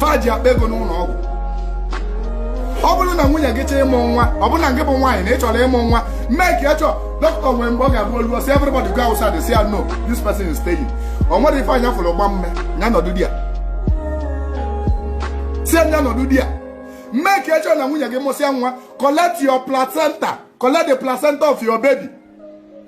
fa ji akpa ego n'ụlọ ọgwụ ọ bụrụ na nwunye gị chọọ ịmụ nwa ọ bụrụ na gị bụ nwaanyị na ị chọrọ ịmụ nwa make sure dọkịta nwere mgbe ọ ga-abụ o lue ọ sị everybody go outside say no this person is staying o nwerọ ife anya fụrụ gbaa mmee ya nọdụ there sị nya nọdụ there make sure na nwunye gị mụsịa nwa collect your placenta collect the placenta of your baby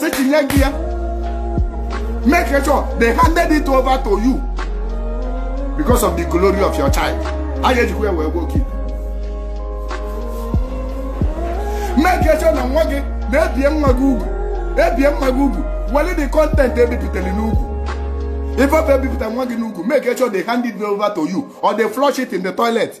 sị chịnye gị ya make sure they handed it over to you because of the glory of your child a ga-ejikwa ya wee gwọ oke ite make sure na nwa gị na e bie nwa gị ugwu e bie nwa gị ugwu were the content e bipụtara n'ugwu ife ọ bụ e bipụta nwa gị n'ugwu make sure they hand it over to you or they flush it in the toilet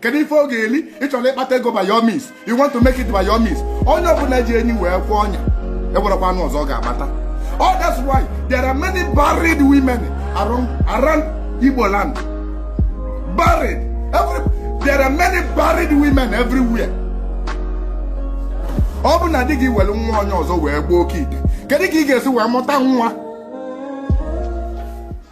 kedu ife ọ ga-eli ị chọrọ ịkpata ego by your means you want to make it by your means onye ọbụla ji enyi wee kwee ọnya e nwerekwa anụ ọzọ ọ ga-agbata oh that's why there are many barren women around, around Igbo land barren every, there are many barren women everywhere ọ bụ na di gị were nwa onye ọzọ wee gbaa oke ite kedu ka ị ga-esi wee mụta nwa